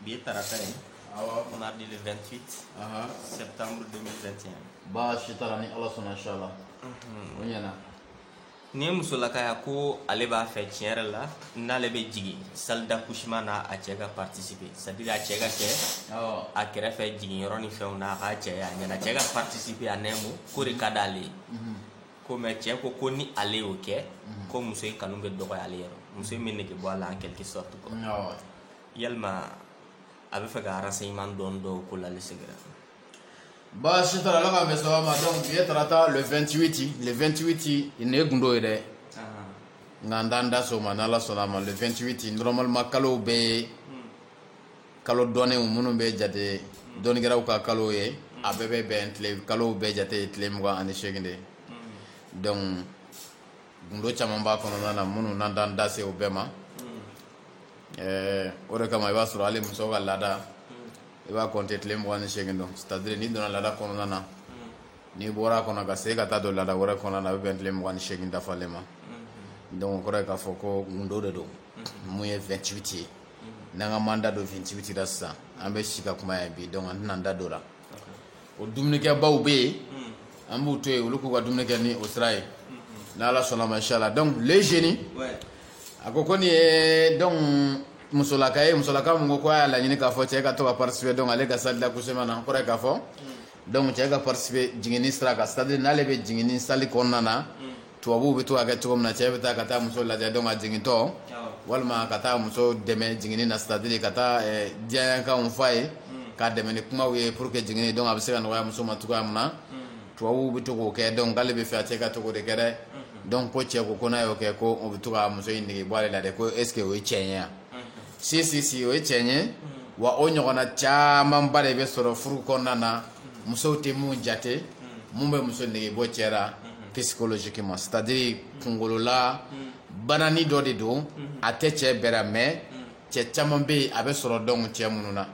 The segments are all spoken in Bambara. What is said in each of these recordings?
Bi ye tarata ye awɔ mardi le 28 ahan septembre 2021 baasi t'a la ni ala sɔnna inchallah o ɲɛna nin ye musolaka ye ko ale b'a fɛ tiɲɛ yɛrɛ la n'ale bɛ jigin salle d'accouchement na a cɛ ka participer c'est à dire a cɛ ka kɛ awɔ a kɛrɛfɛ jiginyɔrɔ ni fɛnw na a k'a cɛ ye a ɲɛna cɛ ka participer a nɛmu k'o de ka d'ale ye ko mais cɛ ko ko ni ale y'o kɛ ko muso in kanu bɛ dɔgɔya ale yɔrɔ muso in bɛ nege bɔ a la en quelque sorte quoi awɔ yalima a bɛ fɛ ka renseignement dɔɔni dɔw ko la ale segira baasi t'a la ala k'an bɛn sababa ma donc bi ye tarata le 28 le 28 nin ye gundo ye dɛ nka an t'an da se o ma n'ala sɔnna a ma le 28 normalement kalow bɛɛ kalo dɔnnenw minnu bɛ jate dɔnnikɛlaw ka kalo ye a bɛɛ bɛ bɛn tile kalow bɛɛ jate ye tile mugan ani seegin de ye donc gundo caman b'a kɔnɔna na minnu na an t'an da se o bɛɛ ma o de kama i b'a sɔrɔ hali muso ka laada i b'a compter tile mugan ni seegin de c'est à dire n'i donna laada kɔnɔna na n'i bɔra a kɔnɔ ka se ka taa don laada wɛrɛ kɔnɔna na a bɛ bɛn tile mugan ni seegin dafalen ma donc kɔrɔ ye k'a fɔ ko gundo de don mun ye 28 ye n'an k'an b'an da don 28 la sisan an bɛ si ka kuma yan bi donc an tɛna an da don o la o dumunikɛbaw bɛ yen an b'u to yen olu k'u ka dumuni kɛ ni o sira ye ni ala sɔnna a ma inchallah donc le génie a ko ko nin ye donc musolaka ye musolaka mun ko y'a laɲini k'a fɔ cɛ ka to ka participer donc ale ka salle d'accouchement na kɔrɔ ye k'a fɔ donc cɛ ka participer jiginni sira kan c'est à dire n'ale bɛ jigin salle kɔnɔna na tubabuw bɛ to k'a kɛ cogo min na cɛ bɛ taa ka taa muso lajɛ donc a jigintɔ walima ka taa muso dɛmɛ jiginni na c'est à dire ka taa diyaɲɛkanw fɔ a ye k'a dɛmɛ ni kumaw ye pour que jiginni donc a bɛ se ka nɔgɔya muso ma cogoya min na tubabuw bɛ to k'o kɛ donc k'ale bɛ fɛ a cɛ ka to k'o de kɛ dɛ donc ko cɛ ko ko n'a y'o kɛ ko o bɛ to ka muso in nege bɔ ale la dɛ ko est ce que o ye tiɲɛ ye wa. si si si o ye tiɲɛ ye wa o ɲɔgɔnna camanba de bɛ sɔrɔ furu kɔnɔna na musow tɛ mun jate mun bɛ muso nege bɔ cɛ la psychologiquement c'est à dire kungolola banani dɔ de don a tɛ cɛ bɛɛ la mais cɛ caman bɛ yen a bɛ sɔrɔ donc cɛ minnu na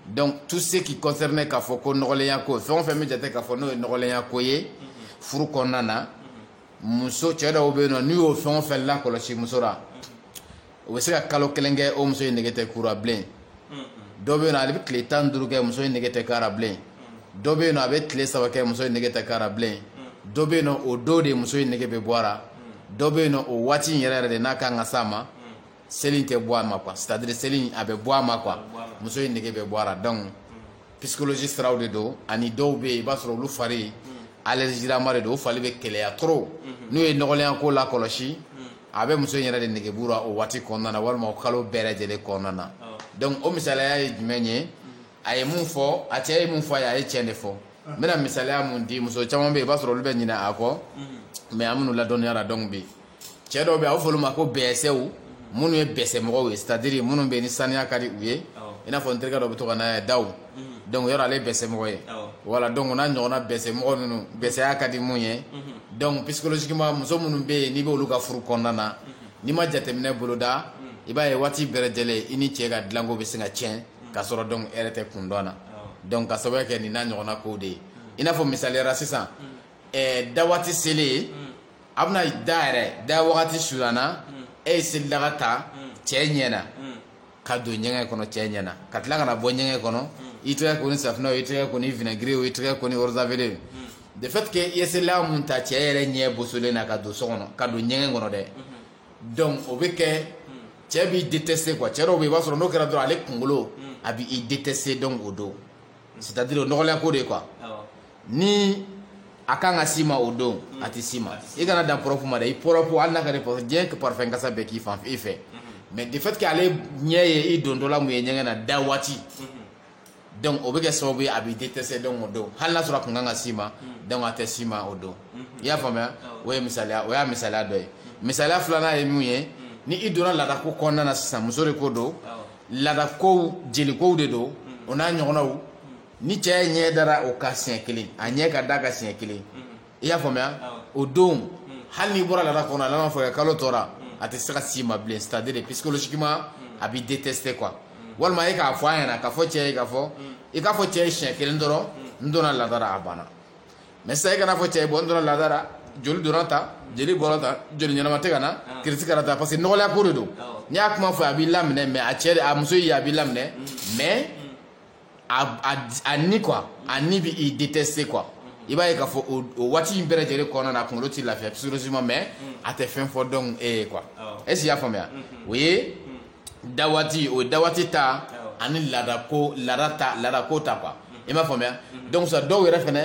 donc tout ce qui concerne k'a fɔ ko nɔgɔlenya ko fɛn o fɛn bɛ jate k'a fɔ n'o ye nɔgɔlenya ko ye furu kɔnɔna na muso cɛ dɔw bɛ yen nɔ n'u y'o fɛn o fɛn lakɔlɔsi muso la o bɛ se ka kalo kelen kɛ o muso in nege tɛ k'u la bilen dɔ bɛ yen ale bɛ tile tan duuru kɛ muso in nege tɛ k'a la bilen dɔ bɛ yen a bɛ tile saba kɛ muso in nege tɛ k'a la bilen dɔ bɛ yen o don de muso in nege bɛ bɔ a la dɔ bɛ yen o waati in yɛrɛ yɛrɛ de n'a ka kan ka sa ma seli tɛ bɔ a ma quoi c'est à dire seli a bɛ bɔ a ma quoi muso in nege bɛ bɔ a la donc psychologie siraw de don ani dɔw bɛ yen i b'a sɔrɔ olu fari allergielama de don fari bɛ kɛlɛya trop n'u ye nɔgɔlenya ko lakɔlɔsi a bɛ muso yɛrɛ de nege bɔ u ra o waati kɔnɔna na walima o kalo bɛɛ lajɛlen kɔnɔna na donc o misaliya ye jumɛn ye a ye mun fɔ a cɛ ye mun fɔ a a ye cɛ de fɔ n bɛna misaliya mun di muso caman bɛ yen i b'a sɔrɔ olu bɛ ɲina a kɔ mais a minnu ladɔnniya la donc bi cɛ dɔw bɛ a bɛ fɔ olu ma ko bɛsɛw minnu ye bɛsɛmɔgɔ ye c'est-à-dire minnu bɛ ni saniya ka di u ye i n'a fɔ n terikɛ dɔ bɛ to ka na da donc yɔrɔ ale bɛsɛmɔgɔ ye voilà donc n'a ɲɔgɔnna bɛsɛmɔgɔ ninnu bɛsɛya ka di minnu ye donc psychologiquement muso minnu bɛ yen n'i bɛ olu ka furu kɔnɔna na n'i ma jateminɛ boloda i b'a ye waati bɛɛ lajɛlen i ni cɛ ka dilanko bɛ se ka tiɲɛ ka sɔrɔ donc e yɛrɛ tɛ kun dɔn na donc ka sababu kɛ nin n'a ɲɔgɔnna ko de ye i n'a fɔ misaliya ra sisan da waati selen ye a bɛna da yɛrɛ da wagati surunyana e ye selidaga ta cɛ ɲɛ na ka don ɲɛgɛn kɔnɔ cɛ ɲɛ na ka tila ka na bɔ ɲɛgɛn kɔnɔ i tɛgɛ ko ni safinɛ o i tɛgɛ ko ni vinaigre o i tɛgɛ ko ni eau de javel de fait que i ye selidaga mun ta cɛ yɛrɛ ɲɛ bosolen na ka don so kɔnɔ ka don ɲɛgɛn kɔnɔ dɛ donc o bɛ kɛ cɛ b'i détester quoi cɛ dɔw bɛ yen i b'a sɔrɔ n'o kɛra dɔrɔn ale kunkolo a b'i détester donc o don c'est-à-dire o nɔgɔlenya ko de ye quoi ni a kan ka s'i ma o don mm. a tɛ s'i ma i kana dan propre ma dɛ i propre hali n'a ka di propre diɲɛ ka parfum kasa bɛɛ k'i fan fɛ mm-hmm. mais de fait que ale ɲɛ ye i dontɔla mun ye ɲɛgɛn na da waati mm-hmm. donc o bɛ kɛ sababu ye a b'i détester donc o don hali n'a sɔrɔ a kun kan ka s'i ma mm. donc a tɛ s'i ma o don mm-hmm. i y'a faamuya o ye misaliya o y'a misaliya dɔ ye misaliya filanan ye mun ye ni i donna laadako kɔnɔna na sisan muso de ko don Laada ko jelikow de don o n'a ɲɔgɔnnaw ni cɛ ɲɛ dara o kan siɲɛ kelen a ɲɛ ka da a kan siɲɛ kelen i y'a faamuya o don hali n'i bɔra laada kɔnɔna na fo kalo tɔ ra a tɛ se ka s'i ma bilen c'est-à-dire psychologiquement a b'i détester quoi walima e k'a fɔ a ɲɛna ka fɔ cɛ ye ka fɔ i k'a fɔ cɛ ye siɲɛ kelen dɔrɔn n donna laada ra a banna mais sisan i kana fɔ cɛ ye bon n donna laada ra joli donna tan jeli bɔra tan joli ɲɛnama tɛ ka na kiriti kɛra tan parce que nɔgɔlenya ko de don n'i y'a kuma fɔ a b'i laminɛ mais a cɛ a muso ye a b'i laminɛ mais a ni quoi a ni b'i détester quoi i b'a ye k'a fɔ o waati in bɛɛ lajɛlen kɔnɔna na a kunkolo tɛ lafiya psychologiquement mais a tɛ fɛn fɔ donc e ye quoi est-ce que i y'a faamuya o ye da waati o ye da waati ta ani laada ko laada ta laada ko ta quoi i m'a faamuya donc sa dɔw yɛrɛ fɛnɛ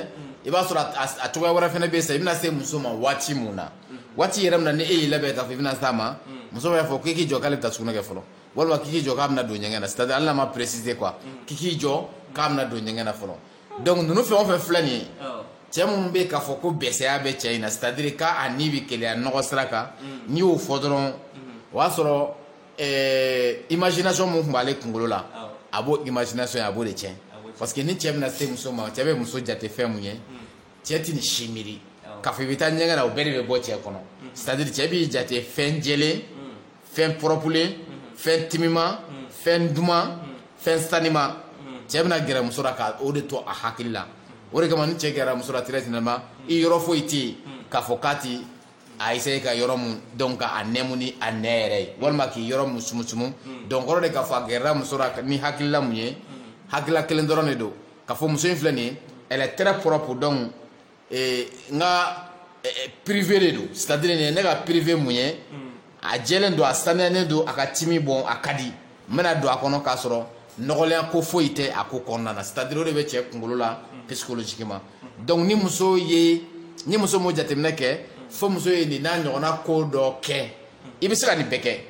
i b'a sɔrɔ a cogoya wɛrɛ fɛnɛ bɛ yen sa i bɛna se muso ma waati mun na waati yɛrɛ min na ni e y'i labɛn k'a fɔ i bɛna s'a ma muso b'a fɔ k'i k'i jɔ k'ale bɛ taa sugunɛ kɛ fɔlɔ walima k'i k'i jɔ k'a bɛna don ɲɛgɛn na c'est à dire hali n'a ma préciser quoi k'i k'i jɔ k'a bɛna don ɲɛgɛn na fɔlɔ donc ninnu fɛn o fɛn filɛ nin ye cɛ minnu bɛ k'a fɔ ko bɛsɛya bɛ cɛ in na c'est à dire k'a ni bɛ keleya nɔgɔ sira kan mm. n'i y'o fɔ dɔrɔn mm-hmm. o y'a sɔrɔ eh, imagination mun tun b'ale kunkolo la a b'o imagination ye a b'o de tiɲɛ parce que ni cɛ bɛna se muso ma cɛ bɛ muso jate fɛn mun ye mm. cɛ tɛ nin si miiri k'a fɔ i bɛ taa ɲɛgɛn na o bɛɛ de bɛ bɔ cɛ kɔnɔ mm-hmm. c'est à dire cɛ b'i jate fɛn jɛlen fɛn proprelen fɛn timima fɛn duman fɛn sanima cɛ bɛna gɛrɛ muso la ka o de to a hakili la o de kama ni cɛ gɛrɛla muso la très généralement i yɔrɔ foyi tɛ yen k'a fɔ k'a tɛ a essayer ka yɔrɔ mun donc ka a nɛmu ni a nɛn yɛrɛ ye walima k'i yɔrɔ mun sumusumu donc kɔrɔ de k'a fɔ a gɛrɛla muso la ni hakilila mun ye hakilila kelen dɔrɔn de don k'a fɔ muso in filɛ nin ye elle est très propre donc ee n ka privé de don c'est à dire nin ye ne ka privé mun ye a jɛlen don a saniyalen don a ka timi bon a ka di n bɛna don a kɔnɔ k'a sɔrɔ nɔgɔlenya ko foyi tɛ a ko kɔnɔna na c'est à dire o de bɛ cɛ kunkolo la psychologiquement donc ni muso ye ni muso m'o jateminɛ kɛ fo muso ye nin n'a ɲɔgɔnna ko dɔ kɛ i bɛ se ka nin bɛɛ kɛ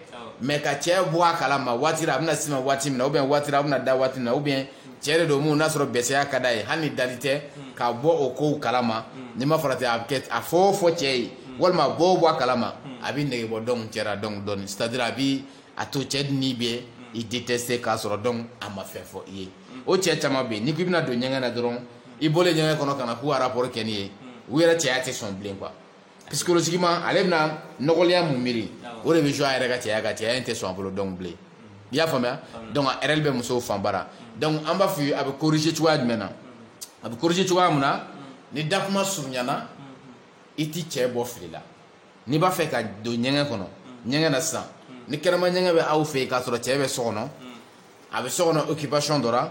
mais ka cɛ bɔ a kala ma waati a bɛna s'i ma waati min na ou bien waati a bɛna da waati min na ou bien cɛ de don min n'a sɔrɔ bɛsɛya ka d'a ye hali ni dali tɛ ka bɔ o ko kala ma n'i ma farati a bɛ a fɔ fɔ cɛ ye walima bɔ bɔ a kala ma a bɛ nege bɔ donc cɛ la donc c'est à dire a bɛ a to cɛ ni bɛ i détester k'a sɔrɔ donc a ma fɛn fɔ i ye o cɛ caman bɛ yen n'i k'i bɛna don ɲɛgɛn na dɔrɔn i bɔlen ɲɛgɛn kɔnɔ ka na k'u rapport kɛ n'i ye u yɛrɛ cɛya tɛ sɔn bilen quoi psychologiquement ale bɛna nɔgɔlenya mun miiri o de bɛ jouer a yɛrɛ ka cɛya kan cɛya in tɛ sɔn a bolo donc bilen i y'a faamuya donc erreur bɛ musow fan bara donc an b'a fɔ ye a bɛ corriger cogoya jumɛn na a bɛ corriger cogoya mun na ni dakuma surunyana i ti cɛ bɔ fili la n'i b'a fɛ ka don ɲɛgɛn kɔnɔ ɲɛgɛn na sisan ni kɛnɛma ɲɛgɛn bɛ aw fɛ yen k'a sɔrɔ cɛ bɛ so kɔnɔ a bɛ so kɔnɔ occupation dɔ la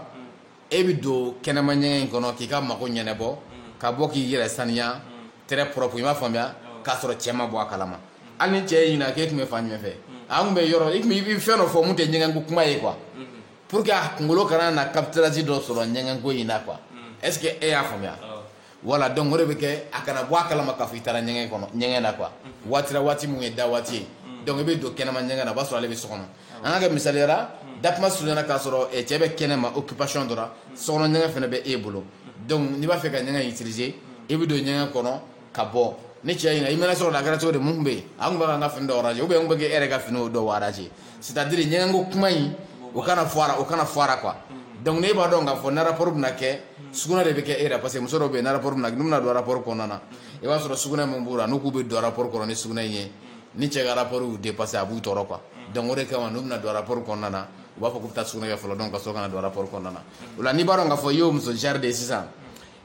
e bɛ don kɛnɛma ɲɛgɛn in kɔnɔ k'i ka mago ɲɛnɛbɔ ka bɔ k'i yɛrɛ saniya très propre i m'a faamuya k'a sɔrɔ cɛ ma bɔ a kalama hali ni cɛ ye ɲininka k'e tun bɛ fan jumɛn fɛ a tun bɛ yɔrɔ i tun i bɛ fɛn dɔ fɔ mun tɛ ɲɛgɛn ko kuma ye quoi pour que a kunkolo kana na captage dɔ sɔrɔ ɲɛgɛn ko in na quoi est-ce que e y'a faamuya voilà donc o de bɛ kɛ a kana bɔ a kalama k'a fɔ i taara ɲɛgɛn kɔnɔ ɲɛgɛn na quoi waati waati min ye da waati ye donc i bɛ don kɛnɛma ɲɛgɛn na o b'a sɔrɔ ale bɛ so kɔnɔ an ka kɛ misaliya la dakuma surunyana k'a sɔrɔ cɛ bɛ kɛnɛma occupation dɔ la so kɔnɔ ɲɛgɛn fana bɛ e bolo donc n'i b'a fɛ ka ɲɛgɛn utiliser i bɛ don ɲɛgɛn kɔnɔ ka bɔ ni cɛ ɲininka i mɛnna sɔrɔ la a kɛra cogo di mun bɛ yen an tun bɛ ka n ka fini dɔw ranger ou bien n tun bɛ k'e yɛrɛ ka fini o dɔw ranger C'est-à-dire ɲɛgɛn ko kuma in o kana fɔ a la o kana fɔ a la quoi donc ne b'a dɔn k'a fɔ ni rapport bɛna kɛ sugunɛ de bɛ kɛ e la parce que muso dɔ bɛ yen ni rapport bɛna n'u bɛna don rapport kɔnɔna na i b'a sɔrɔ sugunɛ min b'u la n'u k'u bɛ don rapport kɔnɔ ni sugunɛ in ye ni cɛ ka rapport y'u dépasser a b'u tɔɔrɔ quoi donc o de kama n'u bɛna don rapport kɔnɔna na u b'a fɔ k'u bɛ taa sugunɛ kɛ fɔlɔ donc ka sɔrɔ ka na don rapport kɔnɔna na o la n'i b'a dɔn k'a fɔ i y'o muso genre de ye sisan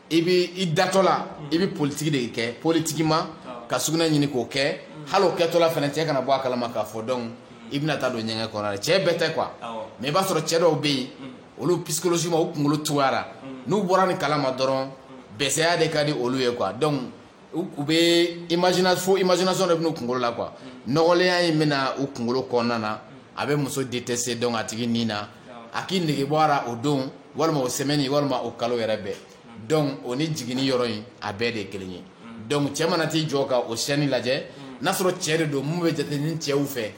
i bɛ i datɔ la i bɛ politique de kɛ politiquement ka sugunɛ ɲini k'o kɛ hali o kɛtɔla fana cɛ kana bɔ a kalama k'a fɔ donc i bɛna taa don ɲɛgɛn kɔnɔ cɛ bɛɛ tɛ quoi mais i b'a sɔrɔ cɛ dɔw bɛ yen olu psychologiquement u kunkolo cogoya la n'u bɔra nin kalama dɔrɔn bɛsɛya de ka di olu ye quoi donc U bɛ imaginer fo imagination de bɛ n'u kunkolo la quoi nɔgɔlenya in bɛna u kunkolo kɔnɔna na a bɛ muso détester donc a tigi nin na a k'i nege bɔ a la o don walima o semaine walima o kalo yɛrɛ bɛɛ donc o ni jiginni yɔrɔ in a bɛɛ de kelen ye donc cɛ mana t'i jɔ ka o scène lajɛ n'a sɔrɔ cɛ de don min bɛ jate ni cɛw fɛ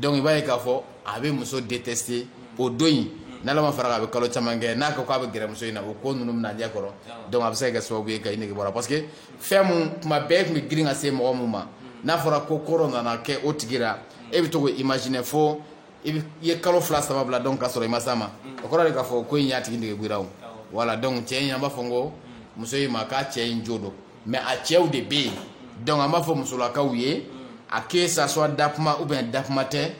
donc i b'a ye k'a fɔ a bɛ muso détester o don in n'Ala ma fara a kan a bɛ kalo caman kɛ n'a ko k'a bɛ gɛrɛ muso in na o ko ninnu bɛna ɲɛ kɔrɔ donc a bɛ se ka kɛ sababu ye ka i nege bɔ a la parce que fɛn min tuma bɛɛ tun bɛ girin ka se mɔgɔ min ma n'a fɔra ko kɔrɔ nana kɛ o tigi la e bɛ to k'o imaginer fo i ye kalo fila saba bila donc k'a sɔrɔ i ma se a ma o kɔrɔ de k'a fɔ ko in y'a tigi nege bɔ i la voilà donc cɛ in an b'a fɔ n ko muso in ma k'a cɛ in jo don mais a cɛw de bɛ yen donc an b'a fɔ musolakaw ye a que ça soit dakuma ou bien dakuma tɛ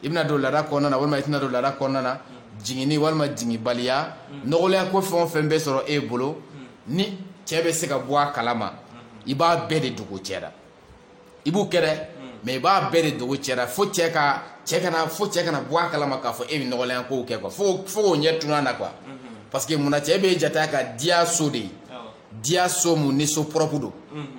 i bɛna don laada kɔnɔna na walima i tɛna don laada kɔnɔna na jiginni walima jiginbaliya nɔgɔlenya ko fɛn o fɛn bɛ sɔrɔ e bolo ni cɛ bɛ se ka bɔ a kalama i b'a bɛɛ de dogo cɛ la i b'u kɛ dɛ mais i b'a bɛɛ de dogo cɛ la fo cɛ kana bɔ a kalama k'a fɔ e bɛ nɔgɔlenya kow kɛ quoi fo k'o ɲɛ tunun a na quoi parce que munna cɛ bɛ jate a ka diya so de ye diya so mun ni so propre don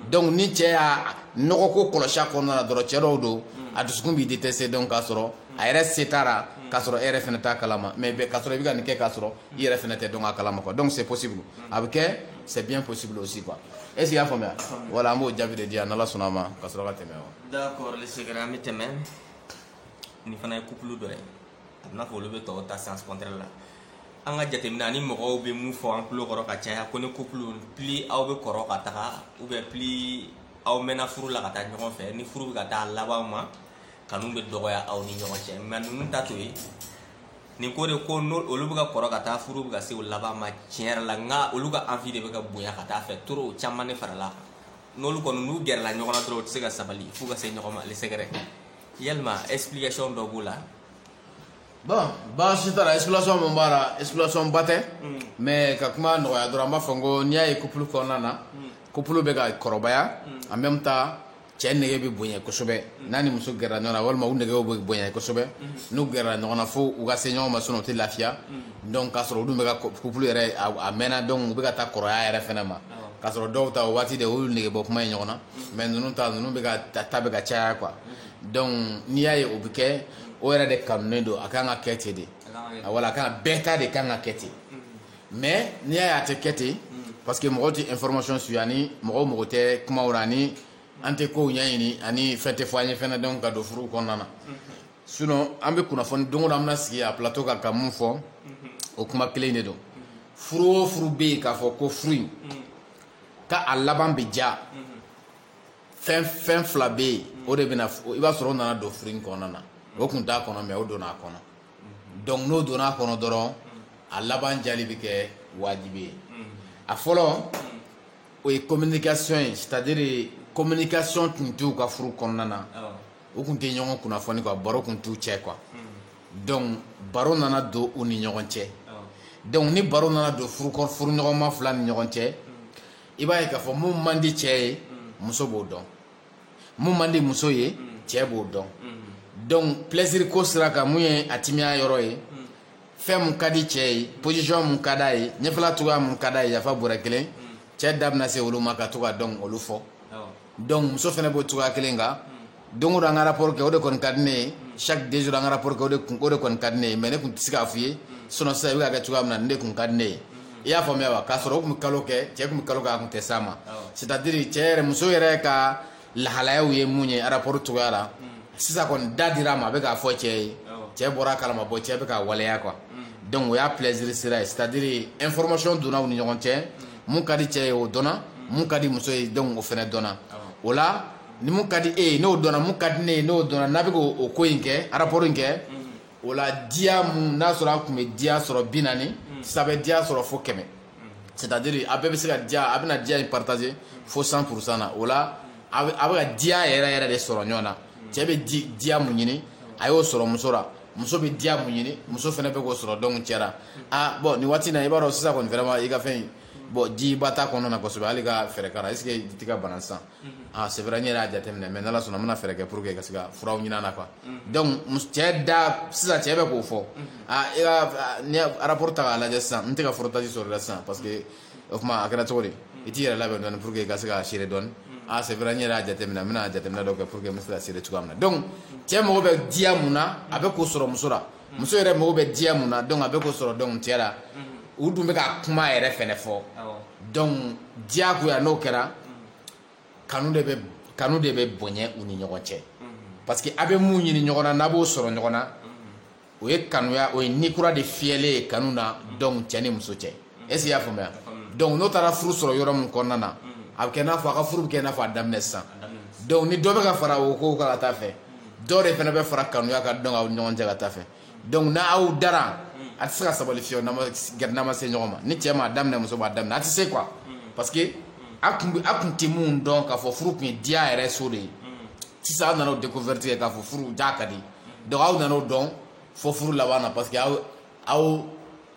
donc ni cɛ y'a nɔgɔ ko kɔlɔsi a kɔnɔna na dɔrɔn cɛ dɔw don a dusukun b'i détester donc k'a sɔrɔ a yɛrɛ se t'a la k'a sɔrɔ e yɛrɛ fana t'a kalama mais k'a sɔrɔ i bɛ ka nin kɛ k'a sɔrɔ i yɛrɛ fana tɛ dɔn a kalama quoi donc c'est possible a bɛ kɛ c'est bien possible aussi quoi e y'a faamuya voilà an b'o jaabi de di yan n'ala sɔnna a ma ka sɔrɔ ka tɛmɛ wa d'accord seginna an bɛ tɛmɛ nin fana ye couple dɔ ye a bɛna fɔ olu bɛ tɔw ta sens contraire la an ka jateminɛ ani mɔgɔw bɛ mun fɔ an tulo kɔrɔ ka caya ko ni couple plus aw bɛ kɔrɔ ka taga ou bien plus aw mɛnna furu la ka taa ɲɔgɔn fɛ ni furu bɛ ka taa laban ma kanu bɛ dɔgɔya aw ni ɲɔgɔn cɛ mais ninnu ta t'o ye nin ko de ko olu bɛ ka kɔrɔ ka taa furu bɛ ka se o laban ma tiɲɛ yɛrɛ la nka olu ka envie de bɛ ka bonya ka taa fɛn trop caman de farala n'olu kɔni n'u gɛrɛla ɲɔgɔn na dɔrɔn u tɛ se ka sabali f'u ka se ɲɔgɔn ma ale secret yalima explication dɔ b'o la bon baasi t'a la explication min b'a la explication ba tɛ mais ka kuma nɔgɔya dɔrɔn an b'a fɔ n ko n'i y'a ye couple kɔnɔna na couple bɛ ka kɔrɔbaya en même temps cɛ nege bɛ bonya kosɛbɛ n'a ni muso gɛrɛla ɲɔgɔn na walima u negew bɛ bonya kosɛbɛ n'u gɛrɛla ɲɔgɔn na fo u ka se ɲɔgɔn ma sinon u tɛ lafiya donc k'a sɔrɔ olu bɛ couple yɛrɛ a mɛnna donc u bɛ ka taa kɔrɔya yɛrɛ fɛnɛ ma k'a sɔrɔ dɔw ta o waati de olu nege bɔ kuma ye ɲɔgɔn na mais ninnu ta ninnu bɛ ka ta bɛ ka caya quoi donc n'i y'a ye o bɛ kɛ o yɛrɛ de kanuen don a ka kan ka kɛ ten de wala a ka bɛɛ ta de ka kan ka kɛ ten mais n'i y'a ye a tɛ kɛ ten parce que mɔgɔw tɛ information suit ani mɔgɔw mɔgɔ tɛ kumaw na ani an tɛ kow ɲɛɲini ani fɛn tɛ fɔ an ye fɛnɛ donc ka don furuw kɔnɔna na sinon an bɛ kunnafoni don o don an bɛna sigi a plateau kan ka mun fɔ o kuma kelen de don furu o furu bɛ yen k'a fɔ ko furu in ka a laban bɛ diya fɛn fila bɛ yen o de bɛna i b'a sɔrɔ o nana don furu in kɔnɔna na o tun t'a kɔnɔ mais o donna a kɔnɔ donc n'o donna a kɔnɔ dɔrɔn a laban diyali bɛ kɛ wajibi ye a fɔlɔ o ye communication ye c'est à dire communication tun t'u ka furu kɔnɔna na u tun tɛ ɲɔgɔn kunnafoni quoi baro tun t'u cɛ quoi donc baro nana don u ni ɲɔgɔn cɛ donc ni baro nana don furu ɲɔgɔnma fila ni ɲɔgɔn cɛ i b'a ye k'a fɔ mun man di cɛ ye muso b'o dɔn mun man di muso ye cɛ b'o dɔn donc plaisir ko sira kan mun ye a timiya yɔrɔ ye fɛn mun ka di cɛ ye position mun ka d'a ye ɲɛfɛla cogoya mun ka d'a ye yafa bɔrɛ kelen cɛ da bɛna se olu ma ka to ka dɔn olu fɔ donc muso fɛnɛ b'o cogoya kelen kan don o don an ka rapport kɛ o de kɔni ka di ne ye chaque deux jours an ka rapport kɛ o de kun o de kɔni ka di ne ye mais ne tun tɛ se k'a f'i ye sinon sisan i bɛ ka kɛ cogoya min na nin de tun ka di ne ye i y'a faamuya wa k'a sɔrɔ o tun bɛ kalo kɛ cɛ tun bɛ kalo kɛ a tun tɛ s'a ma c'est à dire cɛ yɛrɛ muso yɛrɛ ka lahalayaw ye mun ye rapport cogoya la sisan kɔni da dira a ma a bɛ k'a fɔ cɛ ye cɛ bɔra a kalama bon cɛ bɛ k'a waleya quoi donc o y'a plaisir sira ye c'est à dire information donna u ni ɲɔgɔn cɛ mun ka di cɛ ye o dɔnna mun ka di muso ye donc o fɛnɛ dɔnna o la ni mun ka di e ye n'o dɔnna mun ka di ne ye n'o dɔnna n'a bɛ k'o ko in kɛ rapport in kɛ o la diya mun n'a sɔrɔ a tun bɛ diya sɔrɔ bi naani hmm. sisan a bɛ diya sɔrɔ fo kɛmɛ hmm. c'est à dire a bɛɛ bɛ se ka diya a bɛna diya in partager fo 100 pour cent na o la a bɛ ka diya yɛrɛ yɛrɛ de sɔrɔ ɲɔgɔn na hmm. cɛ bɛ diya mun ɲini a y'o sɔrɔ muso la muso bɛ diya mun ɲini muso fɛnɛ bɛ k'o sɔrɔ donc cɛ la ah bon nin waati in na i b'a dɔn sisan kɔni vraiment i ka fɛn in bon jiba t'a kɔnɔna na kosɛbɛ hali ka fɛɛrɛ k'a la est ce que i tɛ ka bana sisan aa c'est vrai n yɛrɛ y'a jateminɛ mais n'ala sɔnna n bɛna fɛɛrɛ kɛ pour que ka se ka furaw ɲinin a la quoi donc mus- cɛ da sisan cɛ bɛ k'o fɔ aa i ka a- n'i ye rapport ta k'a lajɛ sisan n tɛ ka frottage sɔrɔ i la sisan parce que o tuma a kɛra cogo di i t'i yɛrɛ labɛn dɔɔni pour que i ka se ka serrer dɔɔni aa c'est vrai n yɛrɛ y'a jateminɛ n bɛna jateminɛ dɔ kɛ pour que n bɛ se ka serrer cogoya min na donc cɛ mago bɛ diya mun na a bɛ k'o sɔrɔ muso la muso yɛrɛ mago bɛ diya mun na donc a bɛ k'o sɔrɔ donc cɛ la u dun bɛ ka kuma yɛrɛ fɛnɛ fɔ donc diya ko yan n'o kɛra kanu de bɛ bonya u ni ɲɔgɔn cɛ parce que a bɛ mun ɲini ɲɔgɔn na n'a b'o sɔrɔ ɲɔgɔn na o ye kanuya o ye ni kura de fiyɛlen ye kanu na donc cɛ ni muso cɛ e y'a faamuya donc n'o taara furu sɔrɔ yɔrɔ min kɔnɔna na a bɛ kɛ i n'a fɔ a ka furu bɛ kɛ i n'a fɔ a daminɛ sisan donc ni dɔ bɛ ka fara o ko kan ka taa fɛ dɔ de fana bɛ fara kanuya kan donc aw ni ɲɔgɔn cɛ ka taa fɛ donc n'aw dara a tɛ se ka sabali fiyewu n'a ma se ɲɔgɔn ma ni cɛ ma daminɛ muso b'a daminɛ a tɛ se quoi parce que a tun tɛ min dɔn k'a fɔ furu tun ye diya yɛrɛ so de ye sisan aw nana o découverte kɛ k'a fɔ furu diya ka di donc aw nana o dɔn fo furu laban na parce que aw aw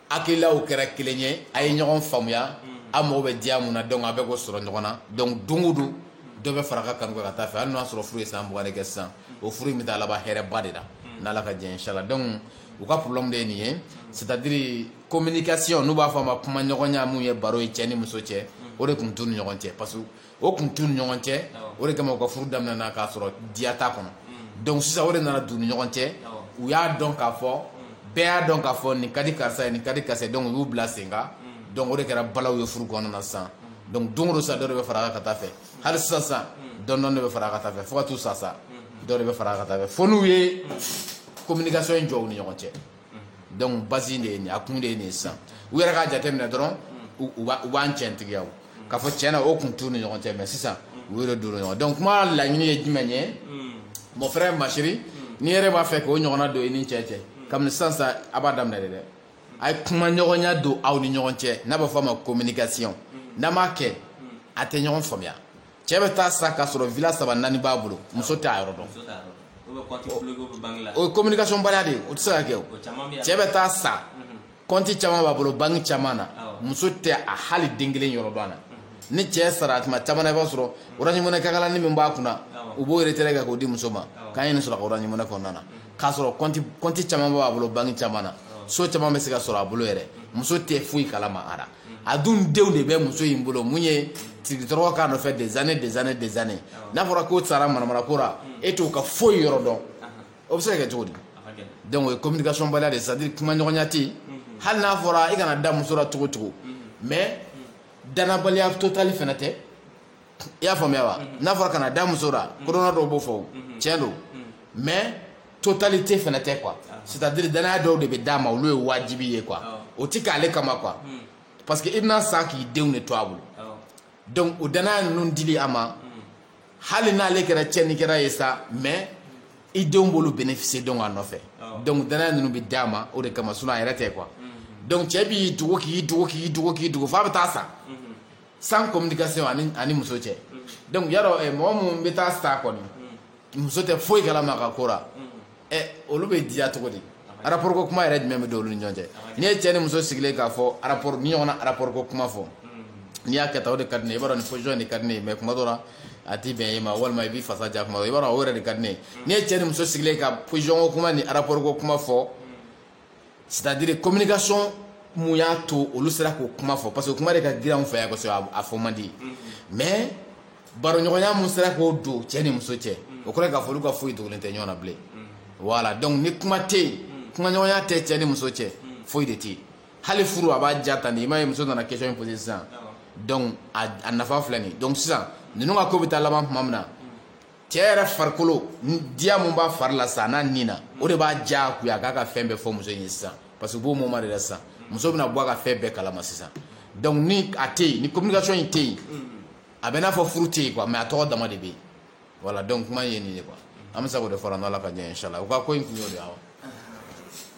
hakililaw kɛra kelen ye a ye ɲɔgɔn faamuya a mago bɛ diya mun na donc a bɛ k'o sɔrɔ ɲɔgɔn na donc don o don dɔ bɛ fara a ka kanu kan ka taa fɛ hali n'o y'a sɔrɔ furu ye san mugan de kɛ sisan o furu in bɛ taa laban hɛrɛba de la n'ala ka diɲɛ inchallah donc u ka problème de ye nin ye c'est à dire communication n'u b'a fɔ a ma kuma ɲɔgɔnya min ye baro ye cɛ ni muso cɛ o de tun t'u ni ɲɔgɔn cɛ pa o tun t'u ni ɲɔgɔn cɛ o de kama u ka furu daminɛna k'a sɔrɔ diya t'a kɔnɔ donc sisan o de nana don u ni ɲɔgɔn cɛ u y'a dɔn k'a fɔ bɛɛ y'a dɔn k'a fɔ nin ka di karisa ye nin ka di karisa ye donc u y'u bila sen kan donc o de kɛra balaw ye furu kɔnɔna na sisan donc don o don sisan dɔ de bɛ fara a kan ka taa fɛ hali sisan sisan dɔɔni dɔɔni de bɛ fara a kan ka taa fɛ fo ka t'u sa sa dɔ de bɛ fara a kan ka taa fɛ fo n'u ye communication in jɔ u ni ɲɔgɔn cɛ donc base de ye nin a kun de ye nin sisan u yɛrɛ k'a jateminɛ dɔrɔn u b'an cɛntigiya k'a fɔ cɛn na o tun t'u ni ɲɔgɔn cɛ mais sisan u yɛrɛ don ɲɔgɔn donc kuma laɲini ye jumɛn ye mon frère ma chérie n'i yɛrɛ b'a fɛ k'o ɲɔgɔnna don i ni cɛ cɛ kabini sisan sa a b'a daminɛ de dɛ a ye kuma ɲɔgɔnya don aw ni ɲɔgɔn cɛ n'a b'a fɔ a ma communication n'a m'a kɛ a tɛ ɲɔgɔn faamuya cɛ bɛ taa sa k'a sɔrɔ villa saba naani b'a bolo muso t'a yɔrɔ dɔn o ye communication baliya de ye o tɛ se ka kɛ o cɛ bɛ taa sa kɔnti mhm. caman b'a bolo banki caman na muso tɛ a hali den kelen yɔrɔ dɔn a la ni cɛ sara tuma caman na i b'a sɔrɔ orange money kakalani min b'a kunna u b'o retrait kɛ k'o di muso ma k'an ye nin sɔrɔ a ka orange money kɔnɔna na mhm. k'a sɔrɔ kɔnti caman b'a bolo banki caman na so caman bɛ se ka sɔrɔ a bolo yɛrɛ muso tɛ foyi kalama a la a dun denw de bɛ muso in bolo mun ye tigitɔrɔ k'a nɔfɛ des années des années des années n'a fɔra k'o sara manamanako la e t'o ka foyi yɔrɔ dɔn o bɛ se ka kɛ cogo di donc o ye communication baliya de ye c'est à dire kuma ɲɔgɔnya tɛ yen hali n'a fɔra i kana da muso la cogo o cogo mais danabaliya totali fana tɛ i y'a faamuya wa n'a fɔra kana da muso la kodɔnna dɔw b'o fɔ tiɲɛ don mais totalité fana tɛ quoi c'est à dire danaya dɔw de bɛ d'a ma olu ye wajibi ye quoi o tɛ k'ale kama quoi hmm. parce que i bɛna sa k'i denw de to a bolo donc o danaya ninnu dili a ma hmm. hali n'ale kɛra tiɲɛnikɛla ye sa mais i denw b'olu bénéficier donc a nɔfɛ donc danaya ninnu bɛ d'a ma o de kama sinon a yɛrɛ tɛ quoi hmm. donc cɛ b'i dogo k'i dogo k'i dogo k'i dogo f'a bɛ taa sa sans communication ani ani muso cɛ donc yarɔ eh, mɔgɔ minnu bɛ taa sa kɔni muso tɛ foyi kalama a ka ko la ɛ olu bɛ diya cogo di rapport ko kuma yɛrɛ jumɛn bɛ don olu ni ɲɔgɔn cɛ n'i ye cɛ ni muso sigilen k'a fɔ rapport ni ɲɔgɔn na rapport ko kuma fɔ n'i y'a kɛ tan o de ka di ne ye i b'a dɔn nin position de ka di ne ye mais kuma dɔ la a tɛ bɛn e ma walima i b'i fasa ja kuma dɔ i b'a dɔn o yɛrɛ de ka di ne ye n'i ye cɛ ni muso sigilen ka position ko kuma ni rapport ko kuma fɔ c'est à dire communication mun y'a to olu sera k'o kuma fɔ parce que kuma de ka girin anw fɛ yan kosɛbɛ a fɔ man di mais baroɲɔgɔnya mun sera k'o don cɛ ni muso cɛ o kɔrɔ k'a fɔ olu ka foyi dogolen tɛ ɲɔgɔn na bilen voilà donc ni kuma tɛ yen kumaɲɔgɔnya tɛ cɛ ni muso cɛ foyi de tɛ yen hali furu a b'a ja tan de i m'a ye muso nana question in poser sisan donc a nafa filɛ nin ye donc sisan ninnu ka ko bɛ taa laban tuma min na cɛ yɛrɛ farikolo diya mun b'a fari la sa n'a ni na o de b'a diyagoya k'a ka fɛn bɛɛ fɔ muso in ye sisan parce que b'o moment de la sisan muso bɛna bɔ a ka fɛn bɛɛ kalama sisan donc ni a tɛ yen ni communication in tɛ yen a bɛ n'a fɔ furu tɛ yen quoi mais a tɔgɔ dama de bɛ yen voilà donc kuma ye nin ye quoi an bɛ se k'o de fara n'Ala ka jɛ inchallah u ka ko in kun y'o de ye awa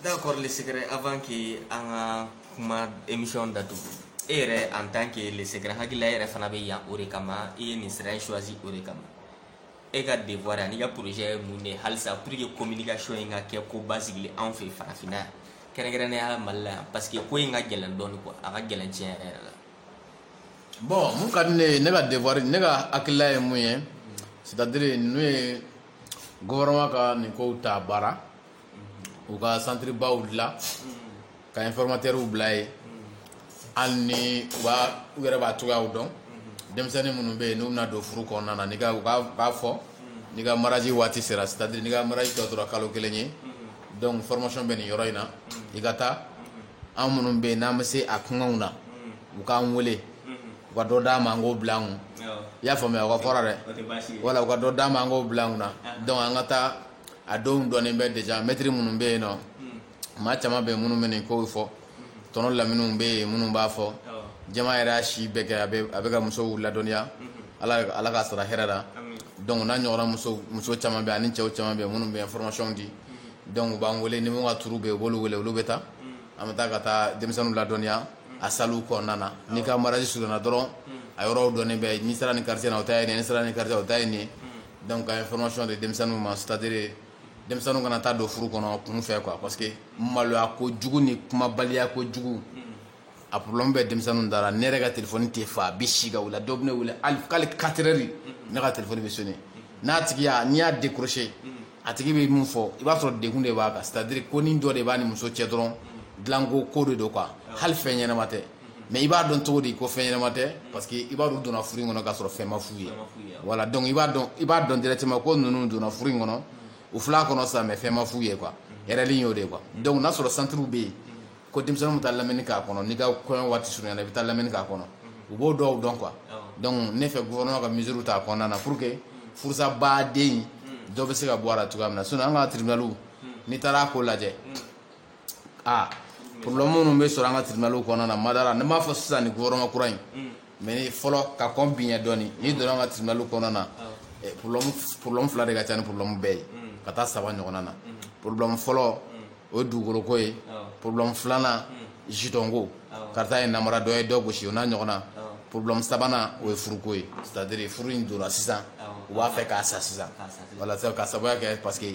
D'accord le secret avant que an ka kuma émission datugu e yɛrɛ en tant que le secret n hakili la e yɛrɛ fana bɛ yan o de kama i ye nin sira in choisi o de kama e ka devoir an'i ka projet ye mun de ye halisa pour que communication in ka kɛ ko basigilen anw fɛ farafinna yan kɛrɛnkɛrɛnnenya mali la yan parce que ko in ka gɛlɛn dɔɔni quoi a ka gɛlɛn tiɲɛ yɛrɛ yɛrɛ la bon mun ka di ne ye ne ka devoir ne ka hakilila ye mun ye c'est à dire n'u ye gouvernement ka nin kow ta ba la u ka centre baw dilan ka informateurw bila yen hali ni u yɛrɛ b'a cogoyaw dɔn denmisɛnnin minnu bɛ yen n'u bɛna don furu kɔnɔna na u k'a fɔ n'i ka mariage waati sera c'est à dire n'i ka mariage tɔ tora kalo kelen ye donc formation bɛ nin yɔrɔ in na i ka taa an minnu bɛ yen n'an bɛ se a koɲaw na u k'an weele u ka dɔ d'an ma an k'o bila an kun i y'a faamuya o ka fɔra dɛ voilà u ka dɔ d'an ma an k'o bila an kun na donc an ka taa a dɔw dɔnnen bɛ déjà maître minnu bɛ yen nɔ maa caman bɛ yen minnu bɛ nin kow fɔ tɔnɔ laminiw bɛ yen minnu b'a fɔ jama yɛrɛ y'a si bɛɛ kɛ a bɛ ka musow ladɔnniya ala k'a sara hɛrɛ la donc n'a ɲɔgɔnna muso caman bɛ yen ani cɛw caman bɛ yen minnu bɛ formationw di donc u b'an wele ni min ka tour bɛ yen u b'olu wele olu bɛ taa an bɛ taa ka taa denmisɛnninw ladɔnniya a salu kɔnɔna na n'i ka mariage surunyana dɔrɔn a yɔrɔw dɔnnen bɛ n'i sera nin quartier na o ta ye nin ye n'i sera nin quartier o ta ye nin ye donc ka information di denmisɛnninw ma c'est à dire denmisɛnninw kana taa don furu kɔnɔ kunfɛ quoi parce que maloya kojugu ni kumabaliya kojugu a problème bɛ denmisɛnninw dara ne yɛrɛ ka téléphone tɛ faa a bɛ si ka wuli dɔw bɛ ne wele k'ale quatre heures ne ka téléphone bɛ sonner a tigi n'i y'a décrocher a tigi bɛ min fɔ i b'a sɔrɔ degun de b'a kan c'est à dire konin dɔ de b'a ni muso cɛ dɔrɔn dilanko ko de don quoi hali fɛn ɲɛnama tɛ mais i b'a dɔn cogo di ko fɛn ɲɛnama tɛ parce que i b'a dɔn u donna furu in kɔnɔ k'a sɔrɔ fɛn ma f'u ye voilà donc i b'a dɔn i b'a dɔn directement ko ninnu donna furu in kɔnɔ u fil'a kɔnɔ sa mais fɛn ma f'u ye quoi erreur y'o de ye quoi donc n'a sɔrɔ centre bɛ yen ko denmisɛnninw bɛ taa lamɛnni k'a kɔnɔ n'i ka kɔɲɔ waati surunyana i bɛ taa lamɛnni k'a kɔnɔ u b'o dɔw dɔn quoi donc ne fɛ gouvernement ka mesure ta a kɔnɔna na pour que furusabaaden hmm. dɔ bɛ se ka bɔ a la cogoya min na sinon an ka tribunaliw hmm. n'i taara a ko lajɛ hmm. aa ah, problème minnu bɛ sɔrɔ an ka tribunaliw kɔnɔna na madara ne m'a fɔ sisan nin gouvernement kura in mais ni fɔlɔ ka kɔn bi ɲɛ dɔɔni n'i donna an ka tribunal kɔnɔna na eh, problème fila de ka ca ni problème bɛɛ ye mm. ka taa saba ɲɔgɔnna na mm. problème fɔlɔ mm. o ye dugukoloko ye problème filanan jitɔnko karisa ye n namara dɔ ye dɔ gosi o n'a ɲɔgɔnna problème sabanan o ye furuko ye c'est à dire furu in donna sisan u b'a fɛ k'a sa sisan voilà ka sababuya kɛ parce que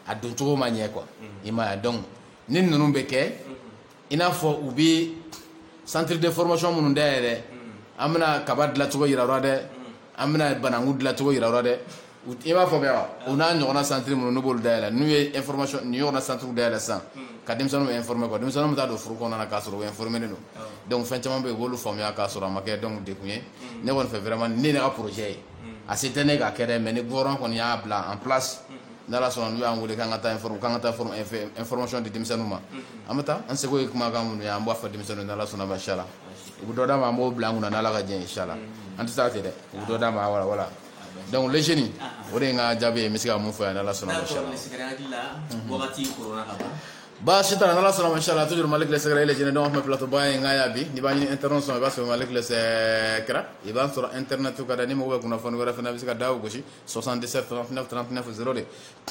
a doncogo ma ɲɛ quoi i m'a ye donc ni ninnu bɛ kɛ i n'a fɔ u bɛ centre de formation minnu dayɛlɛ an bɛna kaba dilancogo yira u la dɛ an bɛna bananku dilancogo yira u la dɛ i b'a fɔ bɛ wa u n'a ɲɔgɔnna centre minnu n'u b'olu dayɛlɛ n'u ye information nin ɲɔgɔnna centre dayɛlɛ sisan ka denmisɛnninw informer quoi denmisɛnninw bɛ taa don furu kɔnɔna na k'a sɔrɔ u informernen don donc fɛn caman bɛ yen u b'olu faamuya k'a sɔrɔ a ma kɛ donc dekun ye ne kɔni fɛ vraiment ne ka projet ye a se tɛ ne k'a kɛ dɛ mais ni gouvernement kɔni y'a bila en place n'ala sɔnna n'u y'an weele k'an ka taa informer k'an ka taa former fɛn information di denmisɛnninw ma, unhun, an bɛ taa an seko ye kumakan minnu ye an b'a fɔ denmisɛnninw ye n'ala sɔnna ma inchallah u bɛ dɔ d'an ma an b'o bila an kunna n'ala ka diɲɛ ye inchallah an tɛ taa ten dɛ u bɛ dɔ d'an ma voilà voilà donc les jeunes o de ye n ka jaabi ye n bɛ se ka mun fɔ yan n'ala sɔnna ma inchallah wagati koronna ka ban baasi t'a la n'ala sɔnna ma inchallah toujours malik le secret les jeunes donc an tun bɛ plateau ba in kan yan bi n'i b'a ɲini internet sɔrɔ i b'a sɔrɔ malik le secret i b'a sɔrɔ internet kan dɛ ni mɔgɔ bɛ kunnafoni wɛrɛ fana bɛ se ka da o gosi sɔsan dɛsɛ tfɛnfɛ de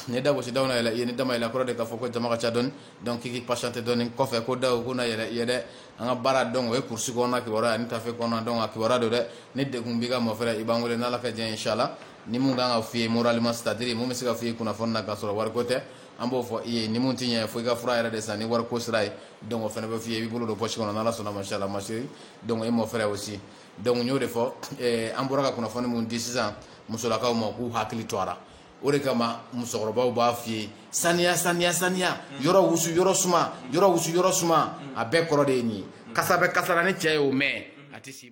ne da gosisi da yɛlɛ ye ni da yɛlɛ kɔrɔ de k'a fɔ ko jama ka ca dɔn dɔn k'i pasitɛ dɔn kɔfɛ ko da ko yɛrɛ yɛrɛ dɛ an ka baara dɔn o ye kurusi kɔnɔ kiba ani tafe kɔnɔ dɔn ka kiba don dɛ ne de tun b'i ka mɔ fɛ i b'an wele n' ka jan si la ni min kan ka f fɔi ye mora ma sari min bɛ se ka f fɔ i kunnafoni na ka sɔrɔ wariko tɛ an b'o fɔ i ye ni min tɛ ɲɛ fo i ka fura yɛrɛ de san ni wari ko sira ye dɔn fana bɛ f fɔ i ye i bolo don psi kɔnɔ n' sɔnna ma sala masi dɔn e mɔ fɛ o si Dɔnku n y'o de fɔ an bɔra ka kunnafoni min di sisan musolakaw ma k'u hakili to a la o de kama musokɔrɔbaw b'a f'i ye saniya saniya saniya yɔrɔ wusu yɔrɔ suma yɔrɔ wusu yɔrɔ suma a bɛɛ kɔrɔ de ye nin ye kasa bɛ kasa la ni cɛ ye o mɛn a tɛ